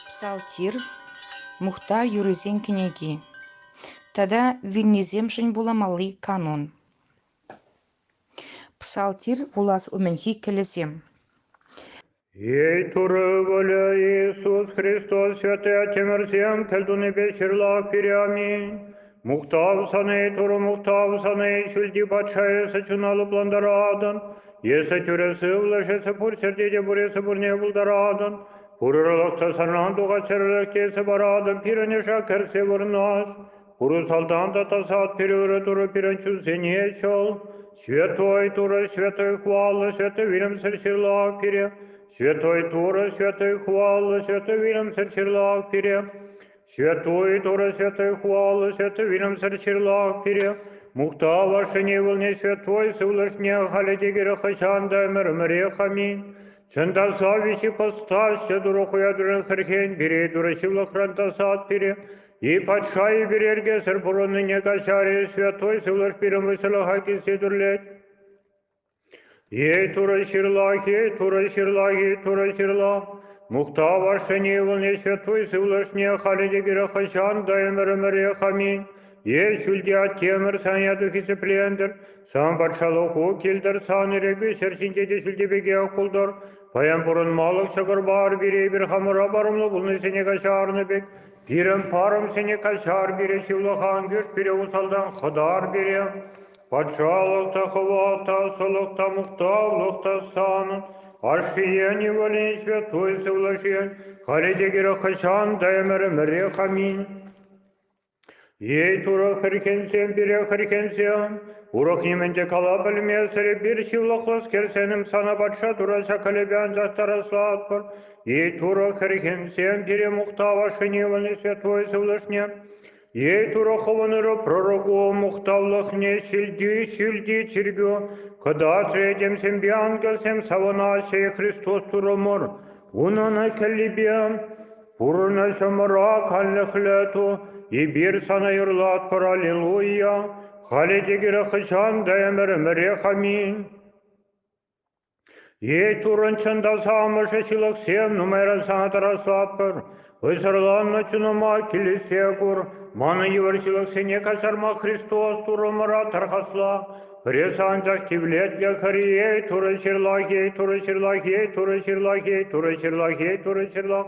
Псалтирь, мухтав юррисен кӗнеки тата вилнисемшӗн вуламалли канун. Псалтирь вулас умӗнхи кӗлӗсем. Ей Турӑ вӑлӗ Иисус Христос Святая Тӗмӗрсем кӗлтунипе ҫырла пире аминь. Мухтав сане, Турӑ мухтав сане, ҫӳлти патша эсӗ чуна лӑплантаратӑн, эсӗ тӳрӗ сывлӑш, эсӗ пур ҫӗрте те пур, эсӗ пурне пултаратӑн, пурӑрлӑхсӑр санран тухать чӗрӗлӗхке эсӗ паратӑн, пирӗн ӑша кӗрсе вырнаҫ, пуру салтан та тасат, пирӗн ырӑ Турӑ пирӗн чунсене чул, Святой Турӑ, Святой Хваллӑ, Святой Вилӗмсӗр Ҫырлав пире, Святой Турӑ, Святой Хваллӑ, Святой Вилӗмсӗр Ҫырлав пире, Святой Торы Святой Хвалы Святой Вилӗмсӗр ҫырлах пире, мухтав вашшине ывӑлне святой сывлӑшне халӗ те кирек хӑҫан та ӗмӗр-ӗмӗрех аминь. Чӑн та завиҫи постаҫҫӗ турӑ хуятурӑн хӗрхен пире турӑ ҫывлӑхран тасат пире, и патша и пирергесӗр пурӑннине каҫарӗ святой сывлӑш пирӗн вӑйсӑрлӑха килсе турлет. Эй, Турӑ ҫырлахи, Турӑ ҫырлахи, Турӑ ҫырла, мухтав ашшӗне ывӑлне ҫветтуй сывлӑшне халӗ те кирек хӑҫан та ӗмӗр-ӗмӗрех аминь. Эй, ҫӳлти Аттемӗр, сан яту хисеплентӗр, сан патшалӑху килтӗр, сан ирӗкӳ ҫӗр ҫинче те ҫӳлти пекех пултӑр. Паян пурӑнмалӑх ҫӑкӑрпар пире эпир хамӑра парӑмлӑ пулнисене каҫарнӑ пек, пирӗн парӑмсене каҫар пире, ҫывлӑхан кӳрт пире усалтан хӑтар пире. Патшалӑх та хӑват та сӑлӑх та мухтавлӑх та санӑн, ашшӗен ывӑлӗн святой сывлӑшӗн, халӗ те кирек хӑҫан та ӗмӗр-ӗмӗрех аминь. Ей, Турӑ хӗрхенсем, пире хӗрхенсем, урӑх нимӗн те кала пӗлмесӗр эпир ҫывлӑхлӑскер сенӗм сана патша Тура ҫак кӗлепе ансах тарӑслатпӑр. Ей, Турӑ хӗрхенсем, пире мухтав ашшӗн ывӑлӗн святой сывлӑшне, Эй Турӑ хӑвӑнӑр пророку мухтавлӑхне ҫилти ҫилти чиркӳ, кӑтатрӗ этемсемпе ангелсем савӑнаҫҫӗ Христос Турӑмӑр. Унӑн кӗллипе пурӑнӑҫӑмӑра канлӗхлӗ ту, эпир сана юрлатпӑр аллилуйя. Халӗ те кирек хӑҫан та ӗмӗр ӗмӗрех аминь. Эй, Туррӑн чӑнтаса амӑшӗ ҫылӑхсем, нумайран сана тӑраслатпӑр. Вӑйсӑрланнӑ чунӑма килӗшсе кур. Манӑн йывӑр ҫылӑхсене каҫарма Христос Туррӑмӑра тархасла. Пире анчах тивлетлӗ хӗр эй, Турӑ ҫырлахи, Турӑ ҫырлахи, Турӑ ҫырлахи, Турӑ ҫырлахи, Турӑ ҫырлах.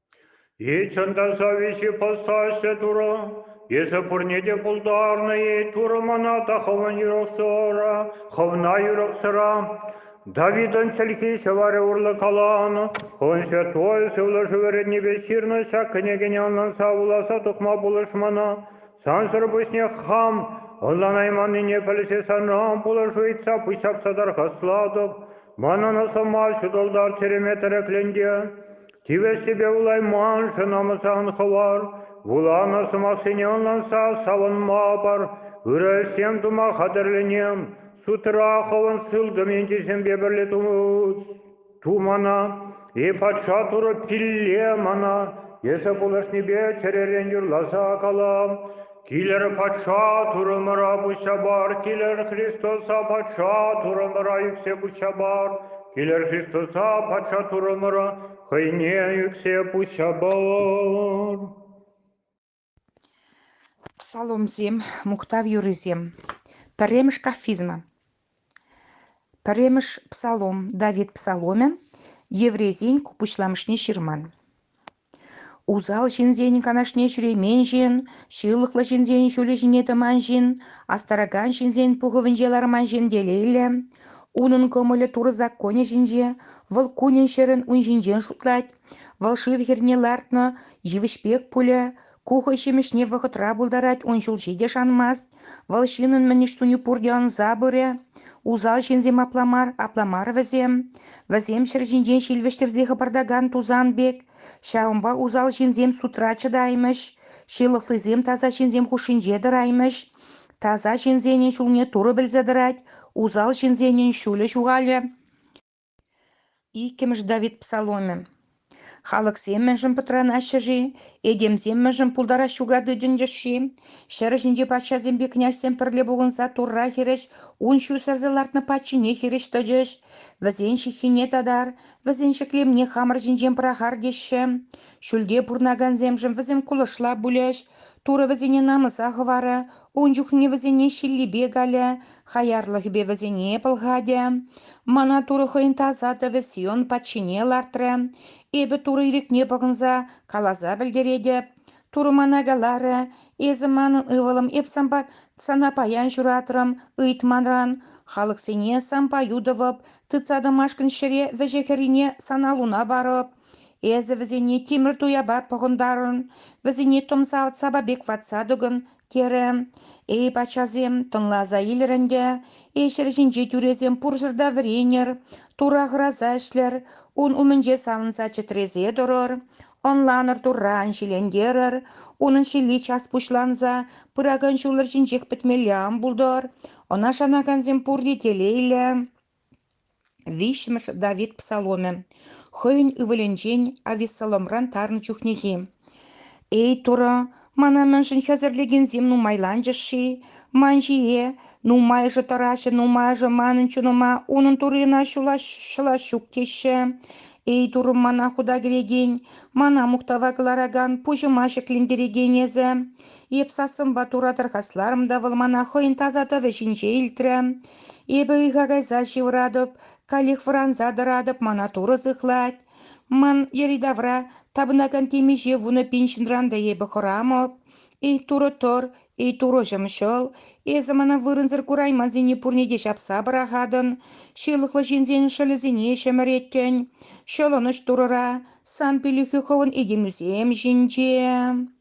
И чӑн та завиҫи постаҫҫӗ, Турӑ, эсӗ пурне те пултарнӑ-и, Турӑ мана та хӑвӑн юрӑхсӑра, хӑвна юрӑхсӑра. Давидӑн чӗлхи ҫӑварӗ урлӑ каланӑ, Хӑвӑн Святой Сывлӑшу вӗрентнипе ҫырнӑ ҫак кӗнекене ӑнланса вуласа тухма пулӑш мана. Сансӑр пуҫне хам ӑнланайманнине пӗлсе санран пулӑшу ыйтса пуҫҫапса тархаслатӑп. Манӑн сӑмах ҫутӑлтар чӗреме тӗреклентӗ. Тивӗҫлипе вулайманшӑн ӑмсан хӑвар, вуланӑ сӑмахсене ӑнланса савӑнма пар, ырӑ ӗҫсем тума хатӗрленем, судра хӑвӑн сылтӑм ентешемпе пӗрле тумана, е патша турӑ пилле мана, эсӗ пулӑшнипе чӗререн юрласа калам, Килӗр патша турӑмӑра пуҫҫа пар, килӗр Христоса патша турӑмӑра ӳксе пуҫҫа пар, килӗр Христоса патша турӑмӑра хӑйне ӳксе пуҫҫа пар. Псаломсем, мухтав юррисем. Пӗрремӗш кафизма. Пӗрремӗш псалом Давид псаломӗ еврейсен ку пуҫламӑшне ҫырман. Усал ҫынсен канашне ҫӳремен ҫын, ҫылӑхлӑ ҫынсен ҫулӗ ҫине тӑман ҫын, астаракан ҫынсен пухӑвӗнче ларман ҫын телейлӗ. Унӑн кӑмӑлӗ Турӑ законӗ ҫинче, вӑл кунӗн-ҫӗрӗн ун ҫинчен шутлать, вӑл шыв хӗрне лартнӑ йывӑҫ пек пулӗ, Ку хӑй ҫимӗҫне вӑхӑтра пултарать, ун ҫулҫи те шанмасть. Вӑл ҫыннӑн мӗн ӗҫ туни пурте ӑнса пырӗ. Усал ҫынсем апла мар, апла мар вӗсем. Вӗсем ҫӗр ҫинчен ҫил вӗҫтерсе хӑпартакан тусан пек. Ҫавӑнпа усал ҫынсем судра чӑтаймӗҫ, ҫылӑхлисем таса ҫынсем хушшинче тӑраймӗҫ. Таса ҫынсенӗн ҫулне Турӑ пӗлсе тӑрать, усал ҫынсенӗн ҫулӗ ҫухалӗ. Иккӗмӗш Давид псаломӗ. Халӑхсем мӗншӗн пӑтранаҫҫӗ-ши? Этемсем мӗншӗн пултарас ҫука тытӑнчӗҫ-ши? Ҫӗр ҫинчи патшасемпе княҫсем пӗрле пухӑнса Турра хирӗҫ ун ҫу сӗрсе лартнӑ патшине хирӗҫ тӑчӗҫ. Вӗсен ҫыххине татар, вӗсен ҫӗклемне хамӑр ҫинчен пӑрахар теҫҫӗ. Ҫӳлте пурӑнакансемшӗн вӗсем кулӑшла пулӗҫ. Турӑ вӗсене намӑса хӑварӗ, Ун чухне вӗсене ҫиллипе калӗ, хаярлӑхӗпе вӗсене пӑлхатӗ. Мана Турӑ хӑйӗн таса тӑвӗ Сион патшине лартрӗ. Эпӗ Турӑ ирӗкне пӑхӑнса каласа пӗлтеретӗп. Турӑ мана каларӗ, эсӗ манӑн ывӑлӑм эп санпа сана паян ҫуратрӑм, ыйт манран. Халӑхсене санпа ютӑвӑп, тытса тӑмашкӑн ҫӗре вӗҫӗ хӗррине сана луна парӑп. Эсӗ вӗсене тимӗр туяпа пӑхӑнтарӑн, вӗсене тӑмсалтсапа пек ватса тӑкӑн, терӗ. Эй, паччасем, тӑнласа илӗр ӗнтӗ, ҫӗр ҫинче тӳресем пурҫӑр та вӗренӗр, тура хӑраса ӗҫлӗр, ун умӗнче савӑнса чӗтресе тӑрӑр, ӑнланӑр турра ан ҫилентерӗр, унӑн ҫилли час пуҫланса пыракан ҫул ҫинчех пӗтмелле ан пултӑр, ӑна шанакансем пурте телейлӗ. Виҫҫӗмӗш Давид псаломӗ хӑйӗн ывӑлӗнчен Авессаломран тарнӑ чухнехи. «Эй, Турӑ, мана мӗншӗн хӗсӗрлекенсем нумайланчӗҫ-ши? Ман ҫие нумайӑшӗ тӑраҫҫӗ, нумайӑшӗ манӑн чунӑма унӑн Туррина ҫӑлас ҫук теҫҫӗ. Эй, Турӑм, мана хута кӗрекен, мана мухтава кӑларакан пуҫӑма ҫӗклентерекен эсӗ. Эп сассӑмпа тура тӑрхасларӑм та вӑл мана хӑйӗн таса тӑвӗ ҫинче илтрӗ. Эпӗ ыйха кайса ҫывӑратӑп, каллех вӑранса тӑратӑп, мана турӑ сыхлать. Ман йӗри-тавра тапӑнакан темиҫе вунӑ пин ҫынран та эпӗ хӑрамӑп. Эй, турӑ тӑр, эй, турӑ ҫӑмҫӑл, эсӗ мана вырӑнсӑр кураймансене пурне те ҫапса пӑрахатӑн, ҫылӑхлӑ ҫынсен шӑлӗсене ҫӗмӗреттӗн. Ҫӑлӑнӑҫ турӑра, сан пиллӗхӳ хӑвӑн этемӳсем ҫинче.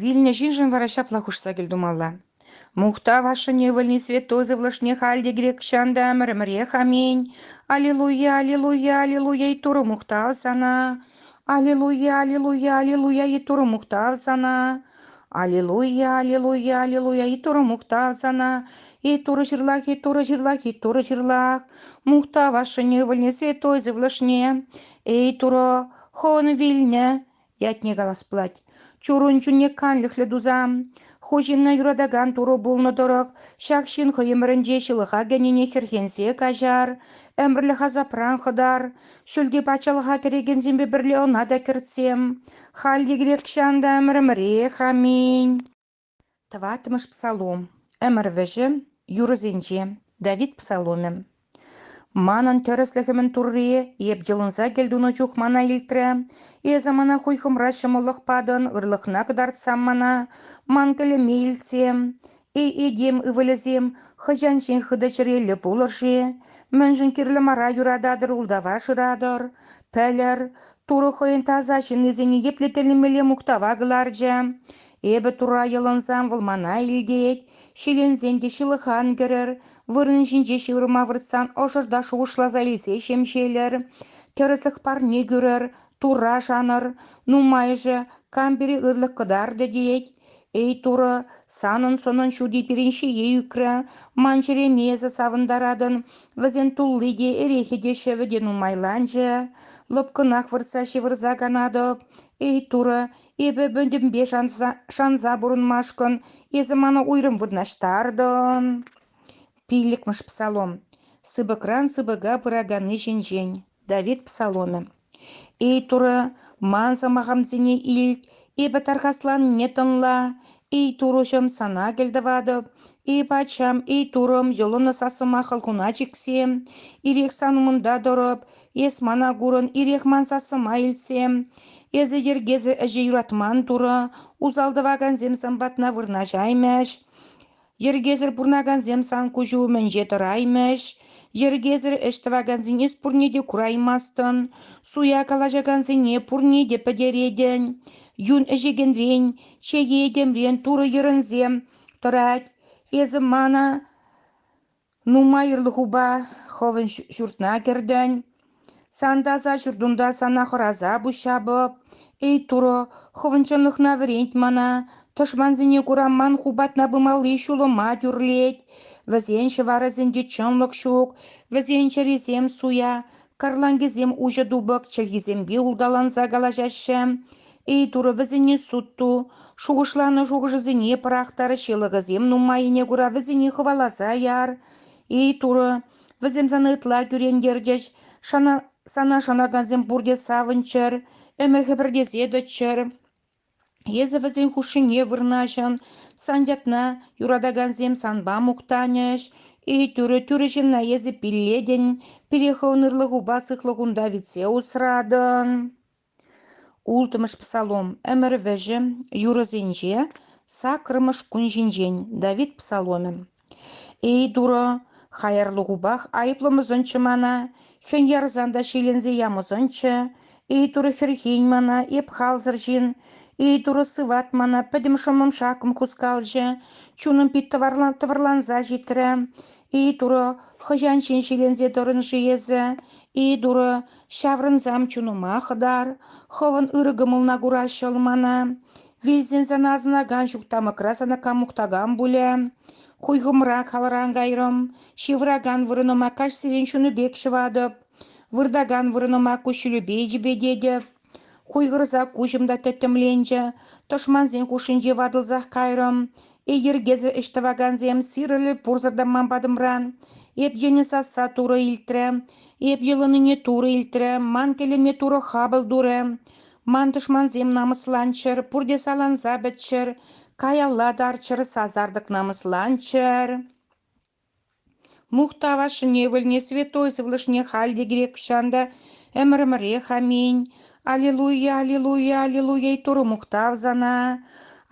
Вилнӗ ҫыншӑн вара ҫапла хушса кӗлтумалла: «Мухтав ашшӗн ывӑлне святой сывлӑшне халь те грек чан та ӗмӗр-ӗмӗрех аминь! Аллилуйя, аллилуйя, аллилуйя и Турӑ мухтав сана! Аллилуйя, аллилуйя, аллилуйя и Турӑ мухтав сана! Аллилуйя, аллилуйя, аллилуйя и Турӑ мухтав сана! И Турӑ ҫырлах, и Турӑ ҫырлах, и Турӑ ҫырлах! Мухтав ашшӗн ывӑлне святой сывлӑшне! Эй, Турӑ, хӑвӑн вилнӗ ятне калас пулать. Чурун чунне канлӗхлӗ тусан, ху ҫынна юратакан турӑ пулнӑ тӑрӑх, ҫак ҫын хӑй ӗмӗрӗнче ҫылӑха кӗнине хӗрхенсе каҫар, ӗмӗрлӗх асапран хӑтар, ҫӳлти патшалӑха кӗрекенсемпе пӗрле ӑна та кӗртсем. Халь те кирек чан та ӗмӗрӗмӗрех, аминь. Тӑваттӑмӗш псалом ӗмӗр вӗҫӗ юрӑсенче Давид псаломӗ. Манӑн тӗрӗслӗхӗмӗн Туррийӗ эп йӑлӑнса кӗлтунӑ чух мана илтрӗ. Эсӗ мана хуйхӑмра ҫӑмӑллӑх патӑн, ырлӑхна кӑтартсам мана. Ман кӗлӗме илтсе, эй этем ывӑлӗсем, хӑҫан ҫын хытӑ чӗреллӗ пулӑр-ши? Мӗншӗн кирлӗ мара юрататӑр, ултава шыратӑр? Пӗлӗр, Турӑ хӑйӗн таса ҫыннисене епле тӗлӗнмелле мухтава кӑларчӗ. Эпӗ тура йӑлӑнсам, вӑл мана илтет, ҫиленсен те ҫылӑхан кӗрӗр, вырӑн ҫинче ҫывӑрма выртсан ӑшӑр та шухӑшласа илсе ҫемҫелӗр, тӗрӗслӗх парне кӳрӗр, тура шанӑр, нумайӑшӗ кам пире ырлӑх кӑтартӗ тет. Эй, Турӑ, санӑн-сӑнӑн ҫути пирӗн ҫие ӳкрӗ, ман ҫереме эсӗ савӑнтаратӑн, вӗсен тулли те, эрехӗ те, ҫӗвӗ те нумайланчӗ. Лӑпкӑнах выртса ҫывӑрса канатӑп. Эй, Турӑ, Эпӗ пӗтӗмпе шанса пурӑнмашкӑн эсӗ мана уйрӑм вырнаҫтартӑн, пиллӗкмӗш псалом, сыпӑкран сыпӑка пыраканни ҫинчен. Давид псаломӗ. Эй Турӑ, ман сӑмахӑмсене илт, эпӗ тархасланнине тӑнла, эй Турӑҫӑм, сана кӗлтӑватӑп, эй Патшам, эй Турӑм, йӑлӑнӑ сассӑма хӑлхуна чиксе, ирех сан умӑнта тӑрӑп, Эс мана курӑн, ирех ман сассӑма илтсе. Эсӗ йӗркесӗр ӗҫе юратман турӑ, усал тӑвакансем сан патна вырнаҫаймӗҫ. Йӗркесӗр пурӑнакансем сан куҫу умӗнче тӑраймӗҫ. Йӗркесӗр ӗҫ тӑвакансен эс пурне те кураймастӑн. Суя калаҫакансене пурне те пӗтеретӗн. Юн ӗҫекенрен, чее этемрен турӑ йӗрӗнсе тӑрать. Эсӗ мана Нумай ырлӑхупа хӑвӑн ҫуртна кӗртӗн. Сан таса ҫуртунта сана хӑраса пуҫҫапӑп. Эй Турӑ, хӑвӑн чӑнлӑхна вӗрент мана. Тӑшмансене кураман ху патна пымалли ҫулӑма тӳрлет. Вӗсен ҫӑварӗсенче чӑнлӑх ҫук, вӗсен чӗрисем суя. Карланкисем уҫӑ тупӑк чӗлхисемпе улталанса калаҫаҫҫӗ, ыйту вӗсене суд ту, шухӑшланӑ шухӑшӗсене пӑрахтар, ҫылӑхӑсем нумаййине кура вӗсене хӑваласа яр, ыйту вӗсем сана ытла кӳрентертӗҫ, сана шанакансем пурте савӑнччӑр, ӗмӗр хӗпӗртесе тӑччӑр. Эсӗ вӗсен хушшине вырнаҫӑн. Сан ятна юратакансем санпа мухтанӗҫ. И тӳрӗ, тӳрӗ ҫынна эсӗ пиллетӗн. Пире хӑвӑн ырлӑхупа сыхлӑхунта витсе усратӑн. Ултӑмӗш псалом. Ӗмӗр вӗҫӗ юрӑсенче саккӑрмӗш кун ҫинчен. Давид псаломӗ. Эй, Турӑ, хаярлӑхупах айӑплӑмӑсӑнччӗ мана, хӗн ярсан та ҫиленсе ямӑсӑнччӗ. Эй, Турӑ, хӗрхен мана, эп халсӑр ҫын. Эй, Турӑ, сыват мана, пӗтӗм шӑммӑм-шаккӑм хускалчӗ, чунӑм пит тӑварлан тӑвӑрланса ҫитрӗ. Эй, Турӑ, хӑҫан ҫын ҫиленсе тӑрӑн-ши эсӗ? Эй, Турӑ, ҫаврӑнсам чунӑма хӑтар, хӑвӑн ырӑ кӑмӑлна кураҫҫӑл мана. Вилсен сана асӑнакан ҫук тамӑкра сана кам мухтакан пулӗ? Хуйхӑмрак халран кайрӑм, ҫывӑракан вырӑнӑма каҫсерен ҫунӑ пек ҫӑватӑп, выртакан вырӑнӑма куҫҫулӗпе йӗпететӗп. Хуйхӑрса куҫӑм та тӗттӗмленчӗ, тӑшмансен хушшинче ватӑлсах кайрӑм. Эй йӗркесӗр ӗҫ тӑвакансем, сирӗлӗ пурсӑр та ман патӑмран. Эп йӗнӗ сасса турӑ илтрӗ, эп йӑлӑннине турӑ илтрӗ, ман кӗлӗме турӑ хапӑл турӗ. Ман тӑшмансем намӑсланччӑр, пурте саланса пӗтчӗр, каялла тарччӑр, сасартӑк намӑсланччӑр. Мухтав ашшӗне вӗлне святой сывлӑшне халь те грекҫан та ӗмӗрӗмӗрех аминь. Аллилуйя, аллилуйя, аллилуйя, Турӑ мухтав сана.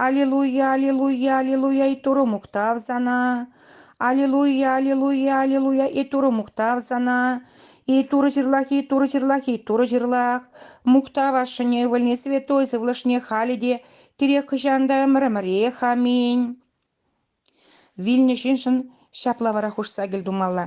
Аллилуйя, аллилуйя, аллилуйя, Турӑ мухтав сана. Аллилуйя, аллилуйя, аллилуйя, и Турӑ мухтав сана. И Турӑ ҫырлахи, Турӑ ҫырлахи, Турӑ ҫырлах. Мухтав ашшӗне, ывӑлне, святой сывлӑшне халӗ те, кирек хӑҫан та ӗмӗр-ӗмӗрех. Аминь. Вилнӗ ҫыншӑн ҫапла вара хушса кӗл тумалла.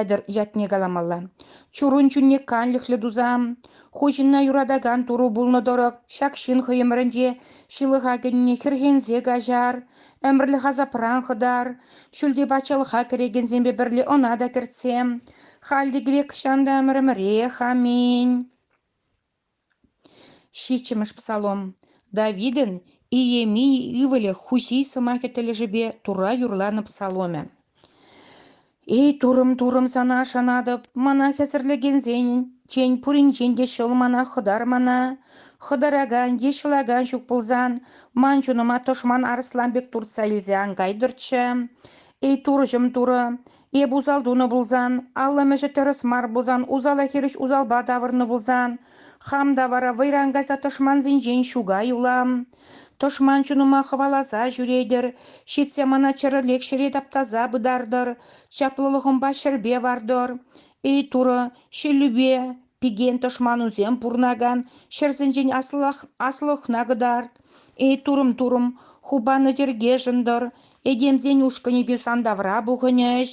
Ятӑр ятне каламалла. Чурун чунне канлӗхлӗ туса, хуҫӑнна юратакан туру пулнӑ тӑрӑх, ҫак ҫын хӑй ӗмӗрӗнче ҫылӑха кӗнине хӗрхенсе каҫар, ӗмӗрлӗх асапран хӑтар, ҫӳлте патшалӑха кӗрекенсемпе пӗрле ӑна та кӗртсе. Халь те кирек чан та ӗмӗрӗмӗрех, аминь. Ҫиччӗмӗш псалом Давидӑн Иеремии ывӑлӗ Хуси сӑмахӗ тӗлӗшӗпе Турра юрланӑ псаломӗ. «Эй, турӑм-турӑм, сана шанатӑп, мана хӗсӗрлекенсенчен пуринчен те ҫӑл мана хӑтар мана. Хӑтаракан е ҫӑлакан ҫук пулсан, ман чунӑма тӑшман арӑслан пек туртса илсе ан кайтӑрччӗ. Эй, турӑҫӑм, турӑ, Эп усал тунӑ пулсан, аллӑмӗшӗ тӗрӗс мар пулсан, усала хирӗҫ усалпа тавӑрнӑ пулсан, хам та вара вӑйран кайса тӑшмансенчен ҫукай улам. Тӑшман чунӑма хӑваласа ҫӳретӗр, ҫитсе мана чӗрӗлек ҫӗре таптаса пытартӑр, чаплӑлӑхӑмпа ҫӗрпе вартӑр. Эй, Турӑ, ҫиллӳпе, пикен тӑшманусем пурӑнакан ҫӗрсенчен аслӑхна кӑтарт, эй турӑм-турӑм, хупаннӑ чӗркешӗн тӑр, этемсен ушкӑнӗпе сандавра пухӑнӗҫ,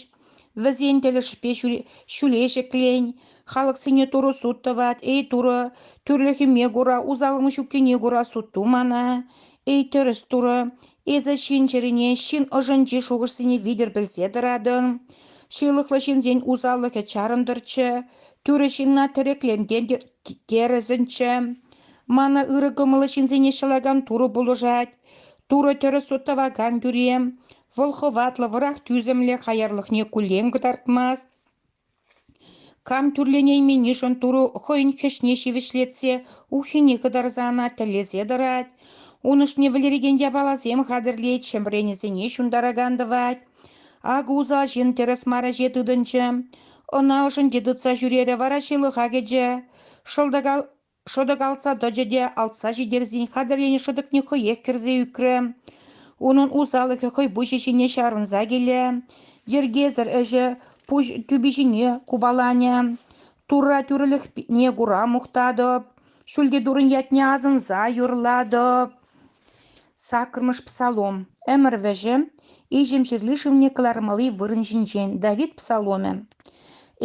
вӗсен тӗлӗшпе ҫӳле ҫӗклен, халӑхсене турӑ суд тӑвать, эй турӑ, тӳрлӗхӗме кура, усаллӑн ҫуккине кура суд ту мана, эй тӗрӗс турӑ, Эсӗ ҫын чӗрине ҫын ӑшӗнчи шухӑшсене витӗр пӗлсе тӑратӑн, ҫылӑхлӑ ҫынсен усаллӑхӗ чарӑнтӑрччӗ, тӳрӗ ҫынна тӗреклентен терӗсӗнччӗ. Мана ырӑ кӑмӑллӑ ҫынсене ҫӑлакан Турӑ пулӑшать. Турӑ тӗрӗс суд тӑвакан тӳре, вӑл хӑватлӑ, вӑрах тӳсӗмлӗ хаярлӑхне куллен кӑтартмасть. Кам тӳрленейменнишӗн турӑ хӑйӗн хӗҫне ҫивӗчлетсе уххине кӑтарса ӑна тӗллесе тӑрать, ун ӑшне вӗлерекен япаласем хатӗрлет, ҫӗмренӗсене ҫунтаракан тӑвать. Ак усал ҫын тӗрӗс мар ӗҫе тытӑнчӗ. Ӑна ӑшӗнче тытса ҫӳрерӗ вара ҫылӑха кӗчӗ. Шӑлтӑка шӑтӑк тӑчӗ те алтса ҫитерсен хатӗрленӗ шӑтӑкне хӑех кӗрсе ӳкрӗ. Унӑн усалӑхӗ хӑй пуҫӗ ҫине чарӑнса киле, йӗркесӗр ӗҫӗ пуҫ тӳпи ҫине купаланӗ. Турра тӳрӗлӗхне кура мухтатӑп, ҫӳлти турӑн ятне асӑнса юрлатӑп. Саккӑрмӗш псалом. Ӗмӗр вӗҫӗ иҫӗм ҫырли шывне кӑлармалли вырӑн ҫинчен. Давид псаломӗ.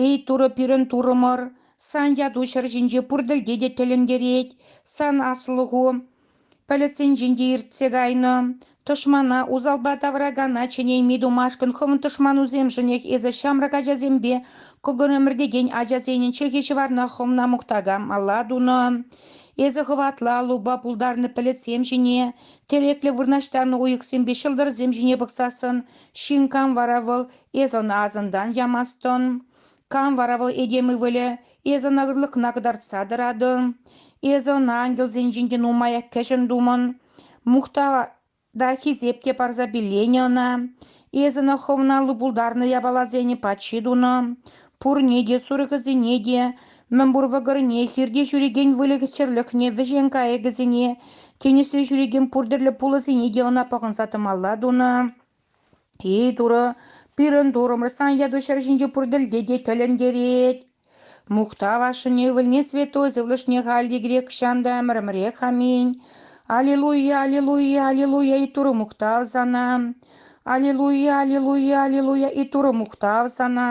Эй Турӑ, пирӗн Турӑмӑр, Сан яту ҫӗр ҫинче пур тӗлте те тӗлӗнтерет. Сан аслӑху пӗлӗтсенчен те иртсе кайнӑ. Тӑшмана, усалпа тавракана чӗнейми тумашкӑн хӑвӑн тӑшманусемшӗнех эсӗ ҫамрӑк ачасемпе кӑкӑр ӗмӗртекен ачасенӗн чӗхи-ҫӑварна хӑвна мухтака мала тунӑ. Эсӗ хӑватла лупа пултарнӑ пӗлӗтсем ҫине, тӗреклӗ вырнаҫтарнӑ уйӑхсемпе ҫӑлтӑрсем ҫине пӑхсассӑн, ҫын кам вара вӑл, эс ӑна асӑнтан ямастӑн. Кам вара вӑл этем ывӑлӗ? Эсӗ ӑна ырлӑхна кӑтартса тӑратӑн. Эсӗ ӑна ангелсенчен те нумая кӗҫӗн тумӑн. Мухта та хисеп те парса пилленӗ ӑна. Эсӗ ӑна хӑвналлӑ пултарнӑ япаласене патши тунӑ. Пурне те, сурӑхӗсене те, мӗнпур вӑкӑрне, хирте ҫӳрекен выльӑх-чӗрлӗхне, вӗҫен кайӑкӗсене, тинӗсре ҫӳрекен пур тӗрлӗ пулӑсене те ӑна пӑхӑнса тӑмалла тунӑ. Эй, Турӑ, пирӗн Турӑмӑр сан яту ҫӗр ҫинче пур тӗлте те тӗлӗнтерет. Мухтав ашшӗн ывӑлне святой сывлӑшне халь те грек ҫан та ӗмӗрӗмӗрех аминь. Аллилуйя, аллилуйя, аллилуйя и Турӑ мухтав сана. Аллилуйя, аллилуйя, аллилуйя и Турӑ мухтав сана.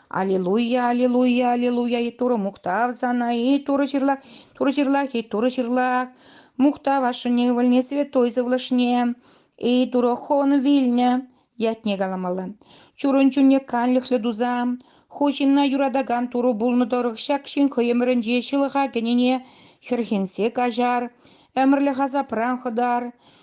Аллилуйя, аллилуйя, аллилуйя, и Турӑ мухтав сана, и Турӑ ҫырлах, Турӑ ҫырлах, и Турӑ ҫырлах, мухтав ашшӗне ывӑлне святой сывлӑшне, и Турӑ хӑвӑн вилнӗ ятне каламалла. Чурӑн чунне канлӗхлӗ туса, ху ҫынна юратакан Турӑ пулнӑ тӑрӑх ҫак ҫын хӑй ӗмӗрӗнче ҫылӑха кӗнине хӗрхенсе каҫар, ӗмӗрлӗх асапран хӑтар,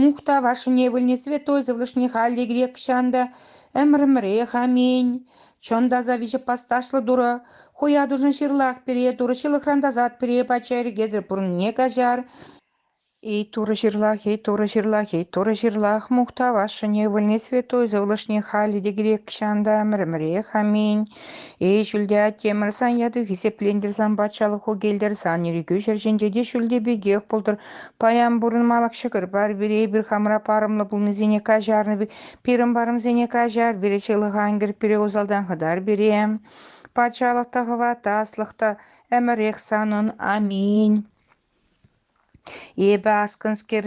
Мухтав ашшӗне вилнӗ святой сывлӑшне халӗ грекҫан та ӗмӗрӗмӗрех аминь. Чӑн та аса виҫӗ пасташлӑ Турӑ хуятушӑн ҫырлах пире Турӑ ҫылӑхран тасат пире пачча ирӗкесӗр пурнӑне каҫар. Эй Турӑ ҫырлах, эй Турӑ ҫырлах, эй Турӑ ҫырлах, мухтав ашшӗне вилнӗ святой сывлӑшне халӗ те грекҫан та ӗмӗрӗмӗрех аминь. Эй, ҫӳлте аттемӗрсан яту хисеплентӗрсан, патшалӑх укелтерсан, ирӗкӳ ҫӗр ҫинче те ҫӳлте пекех пултӑр. Паян пурӑнмалӑх ҫӑкӑр пар пире, эпир хамра парӑмлӑ пулнисене каҫарнӑ, пирӗн парӑмсене каҫар пире, ҫылӑха ӗнгӗр пире усалтан хӑтар пире. Патшалӑх та хӑват, аслӑх та ӗмӗрех санӑн. Аминь. Эпӗ аскӑнскер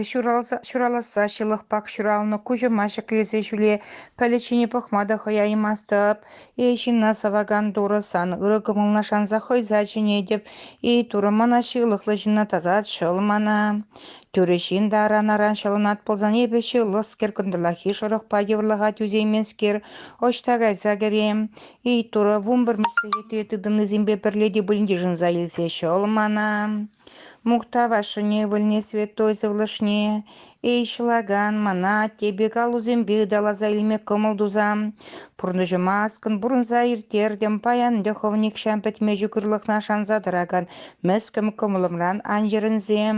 ҫураласса ҫылӑхпах ҫуралнӑ куҫӑма ҫӗклесе ҫӳле пӗлӗт пӑхма та хӑяймастӑп. Эй, ҫынна сӑвакан Турӑ, сан ырӑ кӑмӑлна шанса хӑйса чӗнетӗп. Эй, Турӑ, мана ҫылӑхлӑ ҫынна тасат, шӑл мана. Тӳрӗ ҫын та аран-аран ҫӑлӑнат пулсан, эпӗ ҫылӑскер кӑнтӑрлахи шӑрӑхпа йывӑрлӑха тӳсейменскер, ӑҫта кайса кӗрем? Эй, Турӑ, вунпӗр меслете тытӑннисемпе пӗрле те пулин йышӑнса илсе ҫӑл мана. Мухтав ашшӗне, ывӑлне, святой сывлӑшне. Эй, ҫӑлакан, мана атте пек аллусемпе ыталаса илме кӑмӑл тусам. Пурнӑҫӑма аскӑн пурӑнса ирттертӗм, паян тӑхӑв нихҫан пӗтме ҫукӑрлӑхна шанса тӑракан мӗскӗн кӑмӑлӑмран ан йӗрӗнсем.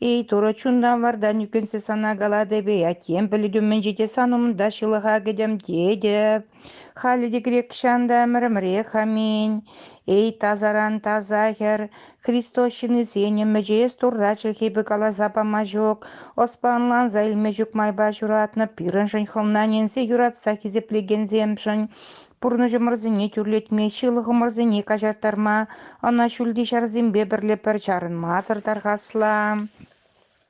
Эй, Турӑ, чунтан вартан ӳкӗнсе сана калатӑп-и, аттем пӗлӗтӳ умӗнче те сан умӑнта ҫылӑха кӗтӗм тетӗп. Халӗ те грекҫан та ӗмӗр-ӗмӗрех аминь. Эй, тасаран таса хӗр, Христос ҫыннисен ӗмӗчӗ эс Турра чӗлхепе каласа пама ҫук, ӑспа ӑнланса илме ҫук майпа ҫуратнӑ пирӗншӗн хӑвнаненсе юратса хисеплекенсемшӗн, пурнӑҫӑмӑрсене тӳрлетме, ҫылӑхӑмӑрсене каҫарттарма ӑна ҫӳлти ҫарсемпе пӗрле пӗр чарӑнмасӑр тархасла.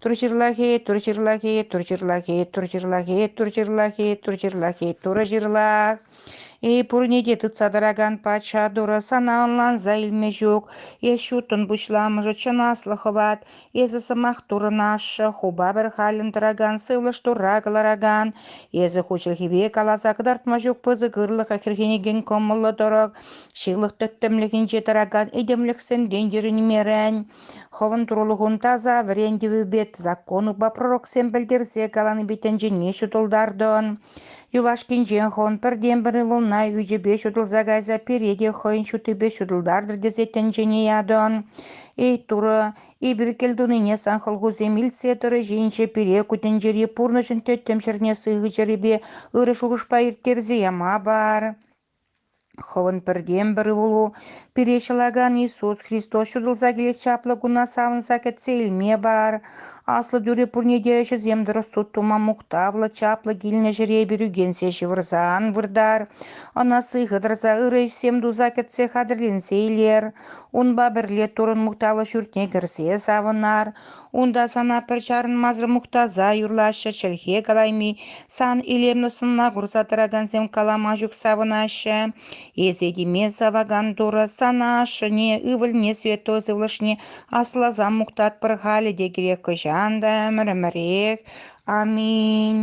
Тур ҫырлахи, тур ҫырлахи, тур ҫырлахи, тур ҫырлахи, тур ҫырлахи, тур ҫырлахи, турӑ ҫырлах. И пурне те тытса тӑракан патша турӑ сана ӑнланса илме ҫук. Эс ҫуттӑн пуҫламӑшӗ чӑн аслӑ хӑват. Эсӗ сӑмах турӑн ашшӗ, хупа пӗр халӗн тӑракан, сывлӑш турра кӑларакан. Эсӗ ху чӗлхипе каласа кӑтартма ҫук пысӑк ырлӑха хӗрхенекен кӑмӑллӑ тӑрӑх, ҫылӑх тӗттӗмлӗхӗнче тӑракан этемлӗхсенрен йӗрӗнмерӗн. Хӑвӑн турлӑхун таса вӗрен тӗвӗпе законупа пророксем пӗлтерсе каланипе тӗнчене ҫутӑлтартӑн. Юлашкинчен хӑвӑн пӗртен-пӗр ывӑлна ӳчӗпе ҫутӑлса кайса пире те хӑйӗн ҫутипе ҫутӑлтартӑр тесе тӗнчене ятӑн. Эй Турӑ, эпир кӗлтунине сан хӑлхусем илтсе тӑрӑшинче пире ку тӗнчери пурнӑҫӑн тӗттӗм ҫӗрне сыхӑ чӗрепе ырӑ шухӑшпа ирттерсе яма пар. Хӑвӑн пӗртен-пӗр ывӑлу пире ҫӑлакан Иисус Христос ҫутӑлса килес чаплӑ куна савӑнса кӗтсе илме пар. Аслӑ тӳре пурне те ӗҫӗсем тӑрӑх суд тума мухтавлӑ, чаплӑ килнӗ ҫӗре перӳкенсе ҫывӑрса ан выртар. Ӑна сыхӑ тӑрса ырӑ ӗҫсем туса кӗтсе хатӗрленсе илер. Унпа пӗрле Туррӑн мухтавлӑ ҫуртне кӗрсе савӑнар. Унта сана пӗр чарӑнмасӑр мухтаса юрлаҫҫӗ, чӗлхе калайми сан илемлӗ сӑнна курса тӑракансем калама ҫук савӑнаҫҫӗ. Эсӗ теме савакан Турӑ сана ашшӗне, ывӑлне, святой сывлӑшне асласа мухтатпӑр халӗ те кирек хӑҫан та ӗмӗр-ӗмӗрех. Аминь.